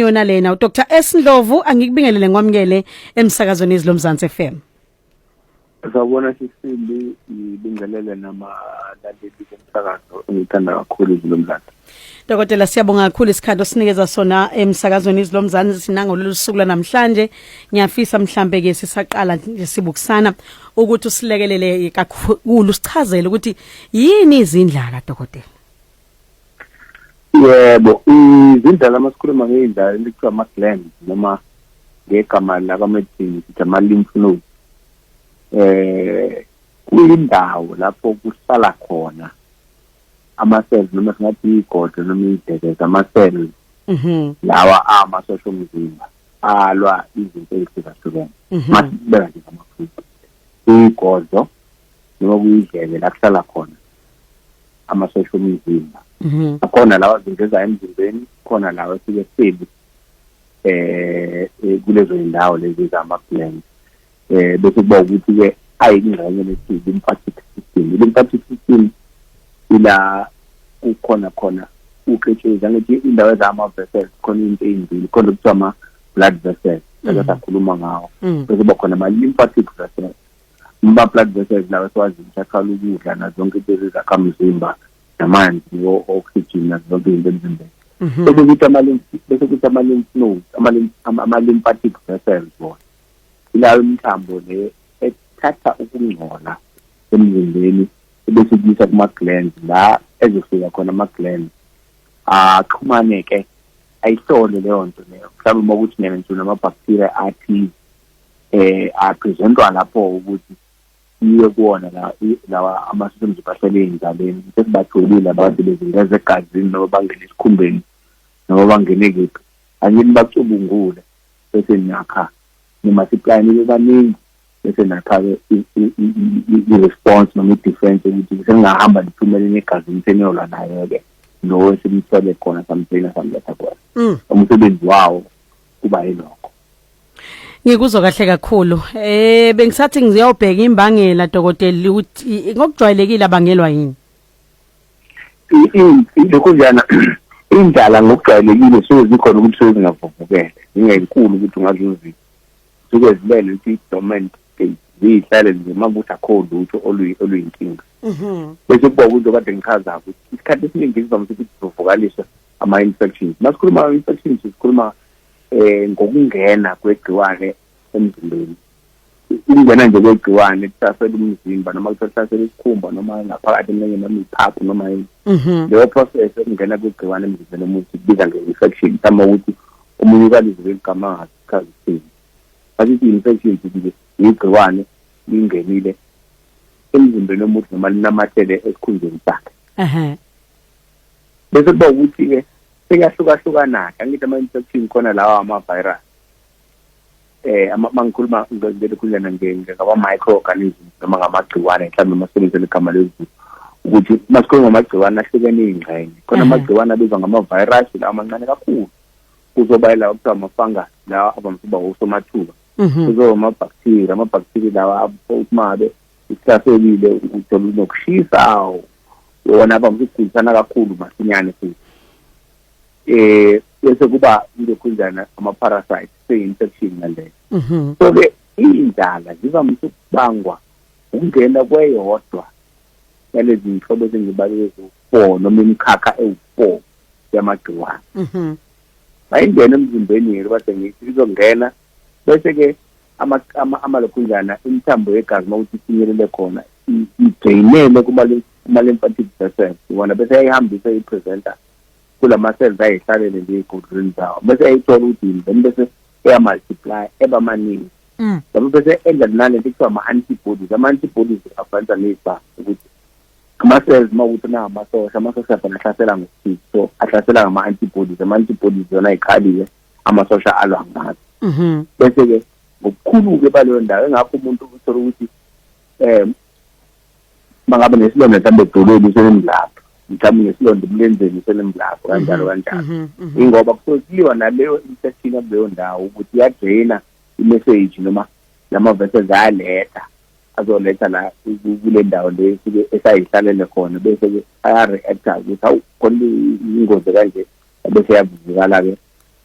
yona lena uDr S Ndlovu angikubingelele ngwamukele emsakazweni izilo Mzansi FM Sawubona sisindi ibingelele namalaleli bomsakazo engithanda kakhulu izilo Mzansi Dokotela siyabonga kakhulu isikhathi osinikeza sona emsakazweni izilomzansi sinango lolusuku lanamhlanje ngiyafisa mhlambe ke sisaqala nje sibukusana ukuthi usilekelele kakhulu sichazele ukuthi yini izindlaka dokotela Yebo izindlala masikhuluma ngeindlala elikuthiwa ama gland noma ngegama laka medicine sithi ama lymph nodes eh kuyindawo lapho kusala khona ama-cells noma singathi iyigodo noma iyidekeza ama-cells mhm. lawa amasosha omzimba alwa izinto ezihlukahlukene mhm. masibeka nje ngamafuta iyigodo noma kuyidleke la kuhlala khona amasosha omzimba mhm. akhona lawa zinto ezayo emzimbeni khona lawa esike sibi eh, eh kulezo zindawo lezi zama-plans eh bese kuba ukuthi ke ayingxenye lesi lymphatic system lymphatic system ila kukhona khona uqetshezi angithi indawo ezama vessels khona into ezimbili khona kuthiwa ama blood vessels mm. ake sakhuluma ngawo mm. bese kuba khona ama lymphatic vessels uma blood vessels lawo siwazi ukuthi athwala ukudla nazo zonke izinto ezakhamzimba namanzi no oxygen nazo zonke izinto emzimbeni Mhm. bese kuthi ama-lymph bese kuthi ama-lymph nodes ama-lymphatic vessels bona ilawo imithambo le ethatha ukungcola emzimbeni ebese kuyisa kuma-glands la ezofika khona ama-glands axhumane-ke ayihlole leyo nto leyo mhlawumbe uma ukuthi nena nje unama-bacteria athize eh apresentwa lapho ukuthi iye kuwona la lawa amasosha omzimba ahlele ey'ndabeni sesibatholile abantu bezingeza egazini noma bangene esikhumbeni noma bangene kephi angini bacubungule bese niyakha nimultiply nibe baningi bese nakha-ke i-response noma i-defense ukuthi sengingahamba niphumele negazini seniyolwa nayo-ke lowo esimthole khona samsina samletha khona mm. umsebenzi wawo kuba yilokho ngikuzwa kahle kakhulu eh bengisathi ngiyobheka imbangela dokotela ukuthi ngokujwayelekile abangelwa yini lokhunjana indlala ngokujwayelekile suke zikhona ukuthi suke zingavuvukele zingenkulu ukuthi ungaze uzizwe suke zilele ukuthi i-dormant state ziyihlale nje uma kuthi akho lutho oluyinkinga mhm. bese kuba kunto kade ngichaza ukuthi isikhathi esiningi sivamise ukuthi zivuvukaliswe ama-infections uma sikhuluma ama-infections sikhuluma um ngokungena kwegciwane emzimbeni ukungena nje kwegciwane kuhlasela umzimba noma kuhlasela isikhumba noma ngaphakathi eminye noma iphaphu noma yini mhm. leyo process yokungena kwegciwane emzimbeni omuntu kubiza nge-infection mhlawumbe ukuthi omunye ukalizile igama angachazi sini asithi i-infection sithi yigciwane lingenile emzimbeni omuntu noma linamathele esikhundleni sakhe bese kuba ukuthi-ke seyahlukahlukana-ke angithi ama-infection khona lawa ama-virus eh mangikhuluma ngikukhulana ngama microorganism noma ngamagciwane mhlawumbe masebenzele igama lezulu ukuthi masikhuluma ngamagciwane ahlukene izingxenye khona amagciwane abizwa ngama virus lawa mancane kakhulu kuzoba la kuthiwa ama fungus lawa abamfuba osomathuba mhm. kuzoba ama bacteria ama bacteria lawa umabe uhlaselile uthola unokushisa wona abamfuba kakhulu masinyane futhi eh bese kuba intokhunjana ama parasite se infection ngale mhm. so ke indlala zivamise ukubangwa ukungena kweyodwa yalezi nhlobo ezingibalile zokufour noma imikhakha ewu-four yamagciwane mhm. mayingena emzimbeni yethu bade ngithi izongena bese-ke amalokhunjana imithambo yegazi uma ukuthi ifinyelele khona idreyinele kuma-lymphatic vessels iwona bese yayihambisa i-presenter kulama-cells ayihlalele nje ey'godlweni zawo bese eyayithola ukuthi yini then bese eyamultiply eba maningi mm. yabo bese enza nale nto kuthiwa ama-antibodies ama-antibodies afanisa nezibanga ukuthi ama-cells uma ukuthi nangamasosha amasosha phela ahlasela ngokuthize so ahlasela ngama-antibodies ama-antibodies yona ayiqalile amasosha alwa ngazo mm-hmm. bese-ke ngokukhulu-ke baleyo ndawo engakho umuntu uthole ukuthi um mangabe nesilonda mhlawumbe edolweni senemlapho mhlawumbe nesilonda emlenzeni senemlapho mhm, kanjalo kanjalo mhm, mhm. ingoba kusuke kuliwa naleyo infection yakuleyo ndawo ukuthi iyadraina imessage noma lama-verses ayaletha azoletha la kule ndawo le esuke esayihlalele khona bese-ke aya-reacta ukuthi hawu khona ingozi kanje bese yavuvukala-ke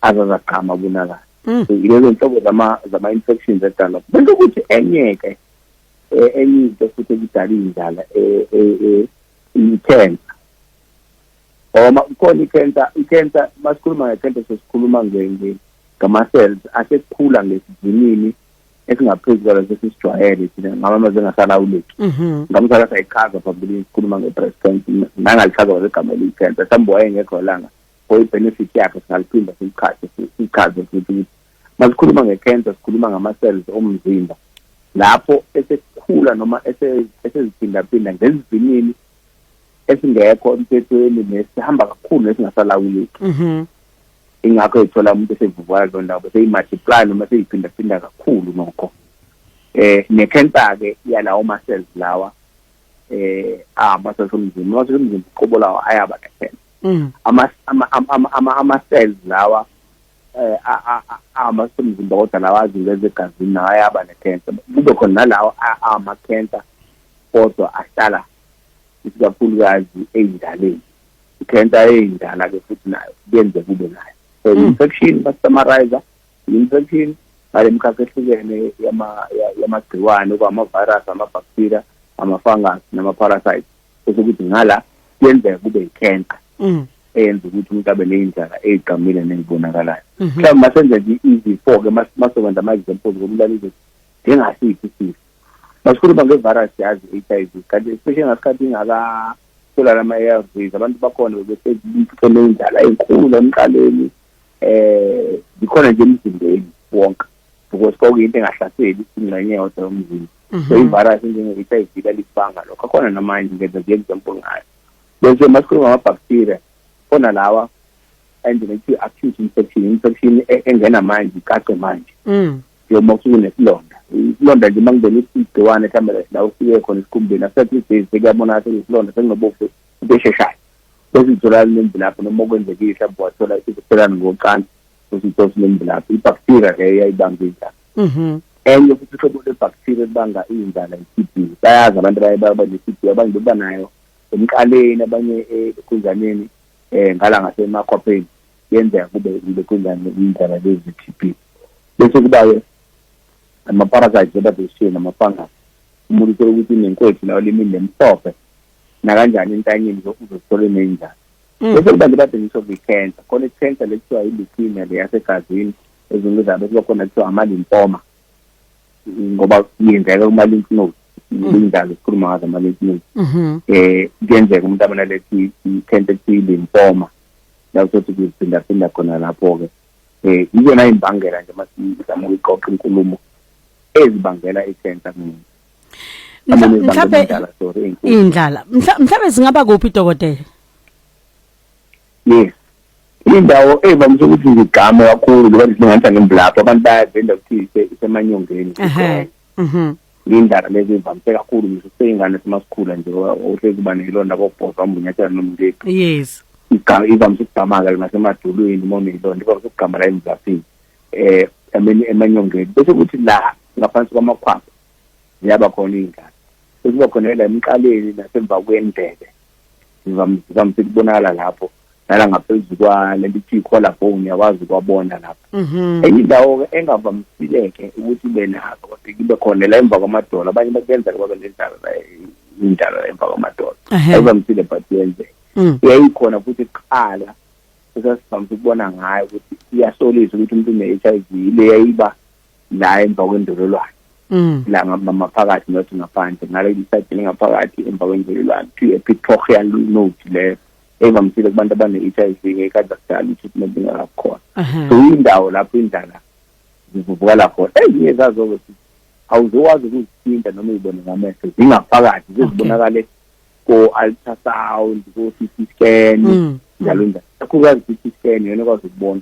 azazagqama kunakala mm. so yilezo nhlobo zama-infections edalwa bese ukuthi enye-ke eh, enye into futhi ekudala indlala eh, eh, i-cancer oma kukhona i-cancer i-cancer masikhuluma nge-cancer sesikhuluma ngama-cells asekhula ngesivinini esingaphezu kwalo sesisijwayele thina ngamamaze engasalawuleki mhm. ngamsala sayichaza phambilini sikhuluma nge-breast cancer nangalichaza kwazegama eliyi-cancer mhlawumbe wayengekho langa for i-benefit yakhe singaliphinda sichaze futhi ukuthi masikhuluma nge-cancer sikhuluma ngama-cells omzimba lapho esekukhula noma eseziphindaphinda ngesivinini esingekho emthethweni nesihamba kakhulu nesingasalawuleki mhm. ingakho ethola umuntu esevuvuka leyo ndawo bese imultiply noma seyiphindaphinda kakhulu nokho eh ne-cancer-ke yalawo ma-cells lawa eh ama-cells omzimba ama-cells omzimba uqobo lawo ayaba ne-cancer mm. ama-cells lawa eh ama semzimba kodwa lawazi ngeze gazini naye aba ne cancer kube khona nalawo ama cancer kodwa ahlala isikakhulukazi eyindaleni cancer eyindala ke futhi nayo kuyenze kube nayo so hmm. infection ba summarizer infection ngale mkhakha ehlukene yama yamagciwane okwama virus ama bacteria ama fungus nama parasites ukuthi ngala kuyenzeka kube icancer hmm. eyenza ukuthi umuntu abe ney'ndlala ey'gqamile nezibonakalayo mhm. mhlawumbe masenze nje izi-four-ke masokwenza ama-examples komlalisi njengasiphi isifo masikhuluma nge-virus yazi i-h i v kanti especially ngasikhathi ingakatholani ama-a r vs abantu bakhona bebesezibuthele indlala enkulu emqaleni um zikhona nje emzimbeni wonke because kwakuyinto engahlaseli ingxenye yodwa yomzimba so mhm. i-virus enjenge-h i v lalikubanga lokho akhona namanje ngenza nje example ngayo bese masikhuluma ngamabhakthiriya khona lawa endlela kuthiwa acute infection infection e-, engena manje icace manje mm. njengoba kusuke nesilonda isilonda nje uma kungena igciwane mhlawumbe la ufike khona esikhumbeni after three days sekuyabonakala sekuyisilonda sekunobofu into esheshayo bese itholakala nemvilapho noma okwenzekile mhlawumbe wathola isiphelane ngocansi bese ithola sinemvilapho ibhakthiriya leyo yayibamba injalo mhm. enye futhi uhlobo lwebhakthiriya elibanga iy'ndala i-t b bayazi abantu abaye baba ne-t b abanye beba nayo emqaleni abanye ekunzaneni eh ngala ngasemakhwapheni yenzeka kube ile kunzane indaba lezi TB bese kuba ke ama parasites abadeshiwe nama fungus umuntu uthola ukuthi nenkwethu lawo limini lemhlophe nakanjani entanyeni uzothola inenjani mm. bese kuba lebade ngisho kwi-cancer khona i-cancer lekuthiwa i-leukemia leyasegazini ezinto zabo kuba khona kuthiwa ama-lymphoma ngoba kuyenzeka uma lymph nodes linjalo mm. sikhuluma ngazo ama lymph nodes mm-hmm. eh kuyenzeka umuntu abanalethi tentative lymphoma la uzothi kuphinda phinda khona lapho ke eh iyona imbangela nje masizama ukuqoqa inkulumo ezibangela i-cancer kumuntu mhlawumbe indlala mhlawumbe singaba kuphi dokotela yes indawo evamise ukuthi ngigqame kakhulu lokho silinganisa nembulapho abantu bayavenda ukuthi isemanyongeni mhm lindaba lezi ivamise kakhulu ngisho useyingane simasikhula nje ohlezi uba nelonda kobhosa umbunyathela nomleki yes ivamise ukugqamaka nasemadulwini uma unelonda ivamise ukugqama la emzaphini eh ameni emanyongeni bese kuthi la ngaphansi kwamakhwapha ziyaba khona iy'ngane sekuba khona la emqaleni nasemva kwendebe ngizamfika ukubonakala lapho nala ngaphezu kwalento ithi i-collar bone yakwazi ukwabona lapho mhm. enye indawo-ke engavamisile-ke ukuthi ibe nazo kodwa kube khona la emva kwamadolo abanye bakuyenzeka babe nendlala indlala emva kwamadolo ayivamisile but yenzeka mm. yayikhona futhi kuqala esasivamise ukubona ngayo ukuthi iyasolisa ukuthi umuntu une-h i v le yayiba la emva kwendololwane mm. la ngama phakathi not ngaphandle ngale isayidi lingaphakathi emva kwendololwane to a pictorial note le evamisile kubantu abane-HIV ngekade kudala i-treatment ingakakhona so indawo lapho indlala zivuvukala khona ezinye zazo-ke futhi awuzokwazi ukuzithinta noma uyibone ngamehlo zingaphakathi zizibonakale ko-ultrasound ko-city scan mm. njalo njalo kakhulukazi i-city scan yona ekwazi ukubona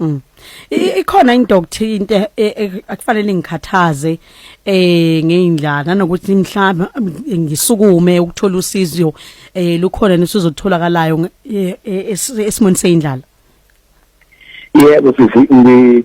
Mm. Ikhona into okuthi into e, e, akufanele ngikhathaze eh ngeindlana nokuthi mhlaba ngisukume ukuthola usizo eh lukhona nesizotholakalayo e, esimoni seindlala. Yebo sisi ngi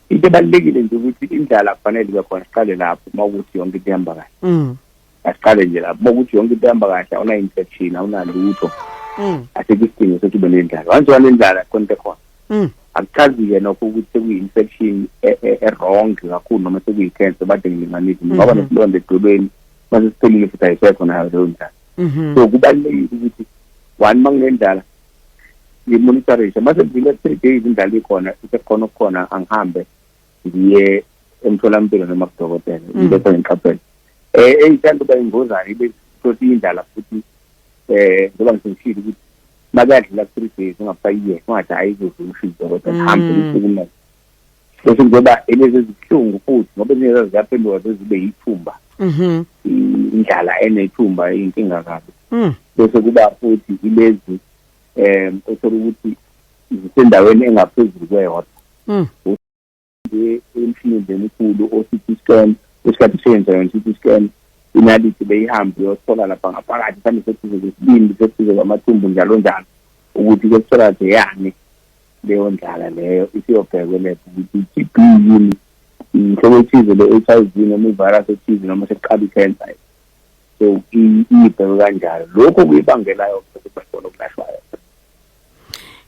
into ebalekile nje ukuthi indlala kufanele ibe khona siqale lapho uma ukuthi yonke into ihamba kahle. Mm. asiqale nje lapho bokuthi yonke into ihamba kahle awuna infection awunalutho mm. asikho isidingo sokuthi ube nendlala once wanendlala konke khona mm. akuchazi-ke nokho ukuthi sekuyi-infection e-wrong e, e kakhulu noma sekuyi-cancer bade ngilinganise ngoba mm-hmm. nesilonda edolweni mase siphelile futhi ayisekho nayo leyo ndlala mm-hmm. so kubalulekile ukuthi one uma nginendlala ngimonitorishe mase ngivile three days indlala ikhona isekhona okukhona angihambe ngiye emtholampilo noma kudokotela mm. ngibese ngiqaphela eh eyithanda uba ingozane ibe sothi indlala futhi eh ngoba ngisishilo ukuthi makadlula ku 3 days ungafayiye ungathi hayi kuzusho idokotela mm. hambe usukume bese ngoba elezi zihlungu futhi ngoba ezinye ziyaphenduka zibe yithumba mhm indlala enethumba inkinga kabi mm. bese kuba futhi ilezi eh othola ukuthi zisendaweni engaphezulu kweyodwa mm. emshinini lemkhulu o-CT scan isikhathi siyenza yona i-CT scan inaliti beyihambe uyothola lapha ngaphakathi mhlawumbe sekuze kwesibindi sekuze kwamathumbu njalo njalo ukuthi kuyotholakala yani leyo ndlala leyo isiyobhekwe leso ukuthi i-T_B yini inhlobo ethize le-HIV noma ivirus ethize noma sekuqala i-cancer so iyibhekwe kanjalo lokho kuyibangelayo ukuthi bakhona okulashwayo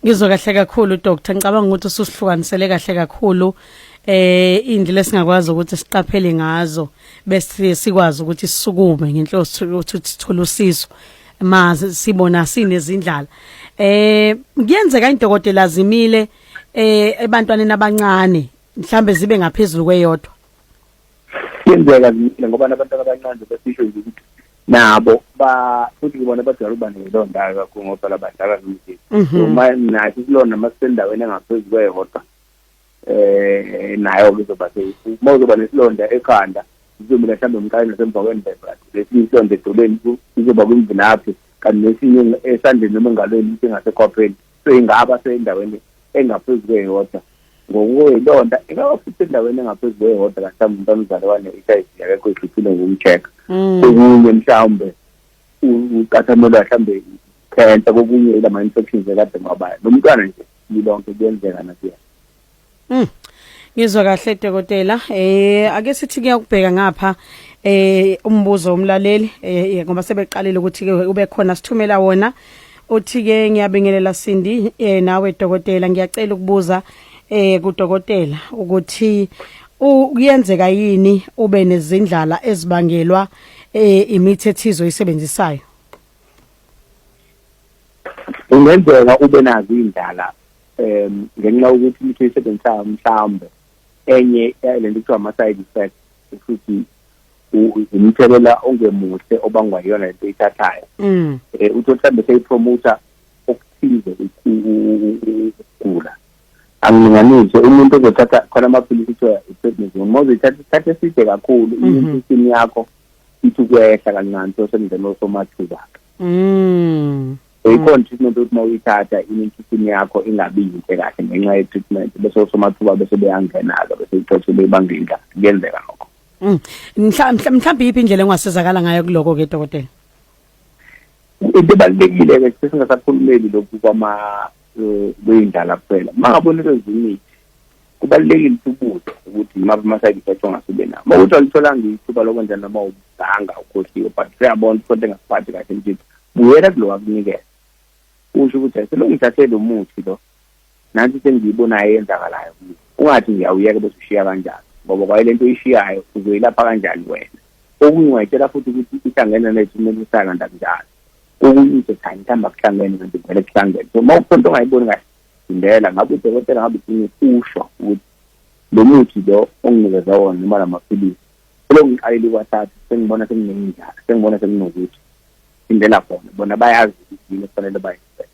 Ngizwe kahle kakhulu doctor ngicabanga ukuthi ususihlukanisele kahle kakhulu eh indlela esingakwazi ukuthi siqaphele ngazo bese sikwazi ukuthi sisukume ngenhloso ukuthi sithole usizo mazi sibona sinezindlala eh kuyenzeka indokotela zimile eh ebantwaneni abancane mhlambe zibe ngaphezulu kweyodwa kuyenzeka zimile ngoba nabantu abancane besisho nje ukuthi nabo ba futhi kubona abadala uba nelo ndawo kakhulu ngoba labadala zimile mhm. uma nathi silona masisendaweni engaphezu kwehota eh nayo kuzoba uma uzoba nesilonda ekhanda izomila mhlawumbe umqali nasemva kwendebe lesinye isilonda edolweni izoba kwimvinaphi kanti nesinye esandleni noma engalweni ukuthi engasekhopheni seyingaba seyindaweni engaphezu kweyodwa ngokuyilonda ingaba futhi endaweni engaphezu kweyodwa kahlawumbe umuntu omzali wane-HIV akekho idluthile ngokumcheck mm. okunye mhlawumbe ucathamelwa mhlawumbe cancer kokunye ilama-infections ekade mabayo lo mntwana nje lilonke kuyenzeka nakuyena Mm. Ngizwa kahle dokotela eh ake sithi kuyakubheka ngapha eh umbuzo womlaleli eh, eh ngoba sebeqalile ukuthi ke ube khona sithumela wona uthi ke ngiyabingelela Sindi eh nawe dokotela ngiyacela ukubuza eh kudokotela ukuthi kuyenzeka yini ube nezindlala ezibangelwa eh imithi ethizo isebenzisayo Ungenzeka ube nazo indlala um ngenxa yokuthi umuntu uyisebenzisa mhlawumbe enye lento kuthiwa ama-side effect futhi umthelela ongemuhle obangwa yiyona lento oyithathayo um uthi mhlawumbe seyipromotha okuthize ukugula angilinganise umuntu ozothatha khona amaphilisi kuthiwa i-prednisone uma uzoyithatha isikhathi eside kakhulu mhm. immune system yakho ithi ukwehla kancane so semzeni osomathuba-ke mm. so mm. ikhona treatment ukuthi uma uyithatha inintisini yakho ingabi yinhle kahle ngenxa ye-treatment bese osomathuba bese beyangena-ke bese ithothe beyibanga indla kuyenzeka lokho mm. mhlawumbe yiphi indlela engasizakala ngayo kuloko-ke dokotela into ebalulekile-ke sesingasakhulumeli lokhu kwama eh, kweyindlala kuphela uma ngabona into ezimithi kubalulekile ukubutho ukuthi yimaphi ama-side effects ongasube nawo uma ukuthi walitholanga ithuba lokwenza noma ubanga ukhohliwe but siyabona ukuthi konto engasiphathi kahle nje buyela kulo wakunikeza usho ukuthi aselongithathe lo muthi lo nansi sengiyibonayo eyenzakalayo ungathi ngiyawuyeka bese ushiya kanjani ngoba kwaye le nto oyishiyayo uzoyilapha kanjani wena okunye ungayitshela futhi ukuthi ihlangene nethu kumele usaka ndakunjalo okunye uzothanda ihamba kuhlangene kanti vele kuhlangene so uma ukhona into ongayiboni kahle Indela ngabe udokotela ngabe ufuna usho ukuthi lo muthi lo onginikeza wona noma la maphilisi kulongiqalile kwathathu sengibona sekunenjalo sengibona sekunokuthi indela khona bona bayazi ukuthi yini kufanele bayenze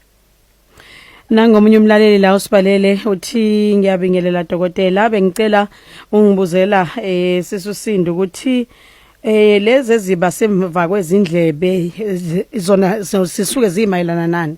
nangomunye umlaleli la usibalele uthi ngiyabingelela dokotela bengicela ungibuzela eh sisusinda ukuthi eh lezi eziba semva kwezindlebe zona sisuke zimayelana nani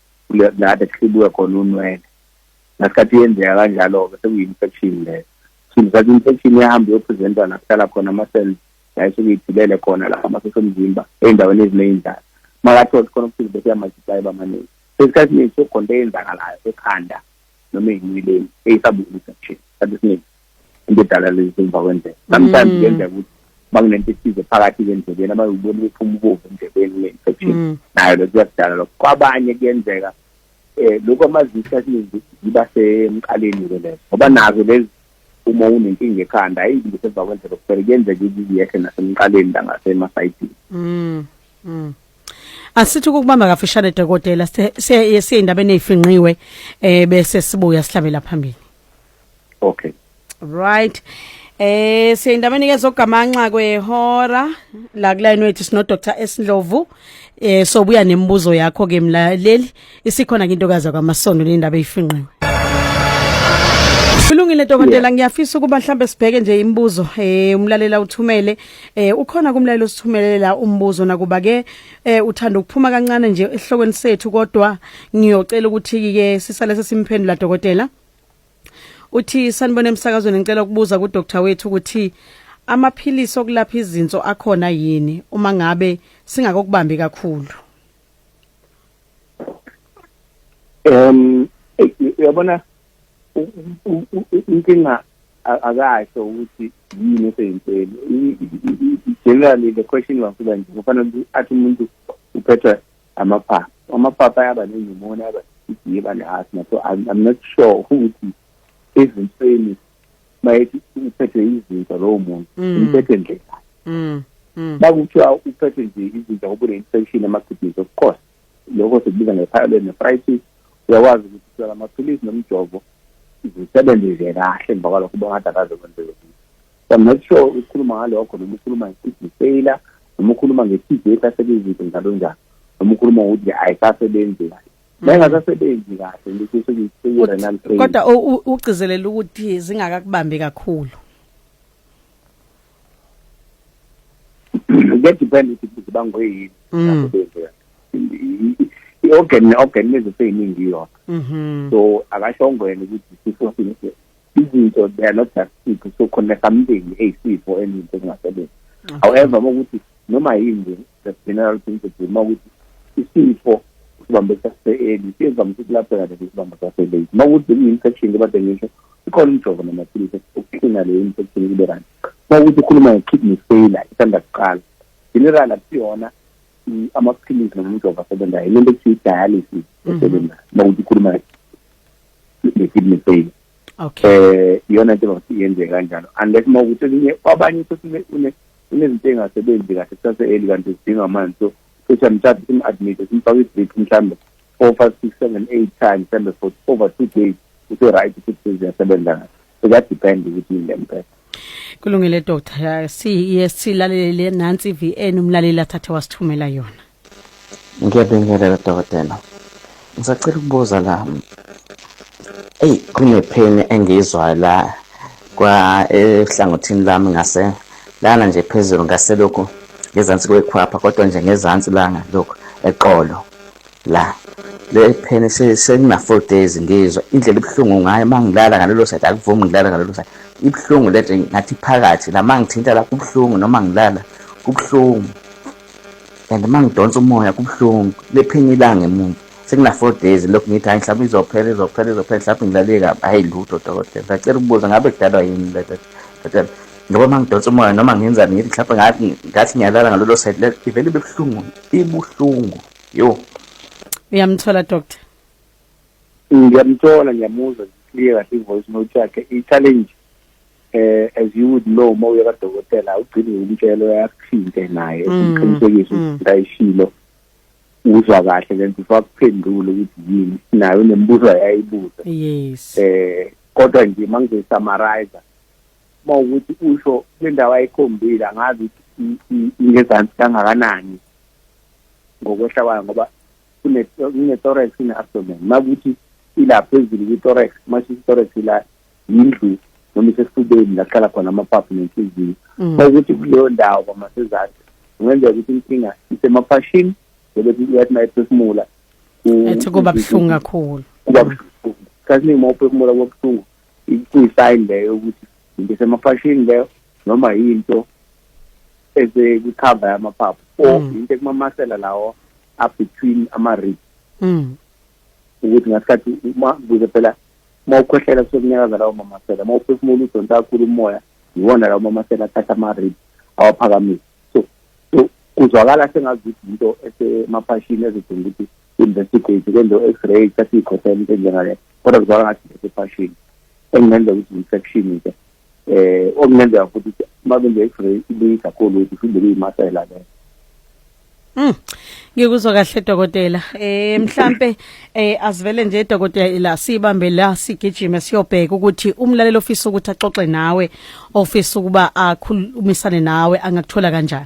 la bekuhlibuke khona unwele ngasikhathi yenzeka kanjalo-ke sekuyi-infection leyo sindisa infection yahamba iyopresenta la kuhlala khona ama-cells la esuke ithulele khona la amasosha omzimba ey'ndaweni eziney'ndlala makathole khona ukuthi bese yamultiplaye bamaningi sesikhathi ningi sokugonto eyenzakalayo ekhanda noma eyinweleni eyisabulisa nje isikhathi esiningi into edala lezi emva kwendlela sometimes mm. kuyenzeka ukuthi makunento ethize phakathi kwendlebeni abayibona ukuthi umbovu endlebeni une-infection mm. nayo lokho kuyakudala lokho kwabanye kuyenzeka eh lokho amazisi asiningi ziba semqaleni-ke lezo ngoba nazo lezi uma unenkinga ekhanda ayi ngise emva kwendlela kuphela kuyenzeka ukuthi yehle nasemqaleni la ngasemasayidini mm. mm. asithi ukubamba kafishane dokotela siye siye indabeni ezifinqiwe eh bese sibuya sihlabela phambili okay right Eh siyindabeni ke zogamanxa kwehora la kulayini wethu sino Dr Esindlovu eh sobuya nemibuzo yakho ke mlaleli isikhona into kaza kwamasondo lendaba eyifinqiwe Kulungile dokotela ngiyafisa ukuba mhlambe sibheke nje imibuzo eh umlalela uthumele eh ukhona kumlalelo sithumelela umbuzo nakuba ke eh uthanda ukuphuma kancane nje ehlokweni sethu kodwa ngiyocela ukuthi ke sisale sesimphendula dokotela uthi sanibona emsakazweni ngicela ukubuza ku doctor wethu ukuthi amaphilisi okulapha izinso akhona yini uma ngabe singakokubambi kakhulu um uyabona inkinga akasho ukuthi yini eseyimpeli generally the question wafika nje kufanele athi umuntu uphethwa amaphaphu amaphaphu ayaba nenyumoni ayaba idiba ne-asthma so I'm, I'm not sure ukuthi ezinsweni mayethi uphethwe izinto lowo muntu mm. uphethwe nje mm, mm. bakuthiwa uphethwe nje izinto ngoba une-infection ema-kidneys of course lokho sikubiza nge-pyelonephritis uyakwazi ukuthi uthola amaphilisi nomjovo zisebenze nje kahle emva kwalokho bongathi akaze kwenzeke I'm not sure ukhuluma ngalokho noma ukhuluma ngesibhi failure noma ukhuluma nge-TV ehlaselwe izinto njalo njalo noma ukhuluma ngokuthi ayisasebenzi kahle mayingasasebenzi kahle ngisho ngiseyi-renal failure kodwa u- u- ugcizelela ukuthi zingakakubambi kakhulu kuyadepend ukuthi kuze bangoyini Mm. asebenzi kahle i-organ ne-organ lezo seyiningi yona mhm so akashongo yena ukuthi sifo sini izinto they are not just people so khona something eyisifo eninto kungasebenzi mm-hmm. however ukuthi noma yini the general principle uma ukuthi isifo isibambe sase-eli siyezama ukuthi kulapheka lesi sibambe sase-late uma ukuthi bekuyi-infection kebade ngisho ikhona umjovo namaphilisi okuklina leyo infection kube right uma ukuthi ukhuluma nge-kidney failure isanda kuqala general akusiyona amaphilisi nomjovo asebenzayo lento ekuthiwa i-dialysis mm-hmm. esebenzayo uma ukuthi ukhuluma ne-kidney pain okay eh iyona into engathi yenzeka kanjalo unless uma ukuthi elinye kwabanye futhi unezinto engasebenzi kahle kusase eli kanti zidinga amanzi so futhi amthatha sim-admit simfaka i-drip mhlawumbe four five six seven eight times mhlawumbe for over two days use-right futhi seziyasebenza kahle kuyadepend ukuthi yini lempela kulungile doctor siye silalele nansi VN umlaleli athathe wasithumela yona ngiyabingelela dokotela ngisacela ukubuza la eyi kunepheni engiyizwayo la kwa ehlangothini lami ngase lana nje phezulu ngaselokhu ngezansi kwekhwapha kodwa nje ngezansi langa lokhu eqolo La le pheni sekuna four days ngizwa indlela ibuhlungu ngayo mangilala ngalelo side akuvumi ngilala ngalelo side ibuhlungu lento ngathi phakathi la mangithinta la kubuhlungu noma ngilala kubuhlungu and mangidonsa umoya kubuhlungu le pheni ilanga emuva sekuna four days lokhu ngithi hayi mhlawumbe izophela izophela izophela mhlawumbe ngilale kabi hayi lutho dokotela ngicela ukubuza ngabe kudalwa yini lento dokotela ngoba uma ngidonsa umoya noma ngenzani ngithi mhlawumbe ngathi ngiyalala ngalelo side ivele ibe buhlungu ibuhlungu yo uyamthola doctor ngiyamthola ngiyamuzwa clear kahle ivoice note yakhe i-challenge eh as you would know uma uye kadokotela ugcine umtshelo yakuthinte naye mm, uqinisekise mm. ukuthi ayishilo uzwa kahle lento ufakuphendula ukuthi yini naye unembuzo yayibuza yes eh kodwa nje mangize summarize uma ukuthi usho kwendawo ayikhombile angazi ingezansi kangakanani ngokwehla kwayo ngoba kune-thorax kune-abdomen uma kuthi ila phezulu kwi-thorax uma i-thorax ila yindlu noma isesifubeni la kuhlala khona amaphaphu nenhliziyo mm. uma ukuthi kuleyo ndawo kwamasezathu kungenzeka ukuthi inkinga isemaphashini bebethu uyathi uma ephefumula ethi kuba buhlungu kakhulu kuba buhlungu kaziningi uma uphefumula kuba buhlungu kuyisayini leyo ukuthi into semaphashini leyo noma yinto esekukhava yamaphaphu or mm. into ekumamasela lawo up between ama-rib mm. ukuthi ngasikhathi uma kuze phela uma ukhwehlela kusokunyakaza lawo mamasela uma uphefumula udonsa kakhulu umoya yiwona lawo mamasela athatha ama-rib awaphakamisa so so kuzwakala sengazuthi yinto esemaphashini ezidinga ukuthi investigate kwenze u-x-ray thatha iy'khohlela into enjengale kodwa kuzwaka ngathi sesefashini engingenza ukuthi infection nje eh okungenzeka futhi uma benze x-ray ibuye kakhulu ukuthi iphinde kuyimasela leyo Mm. Ngikuzwa kahle dokotela. Eh mhlambe eh asivele nje dokotela ila sibambe la sigijime siyobheka ukuthi umlaleli ofisa ukuthi axoxe nawe ofisa ukuba akhulumisane nawe angakuthola kanjani.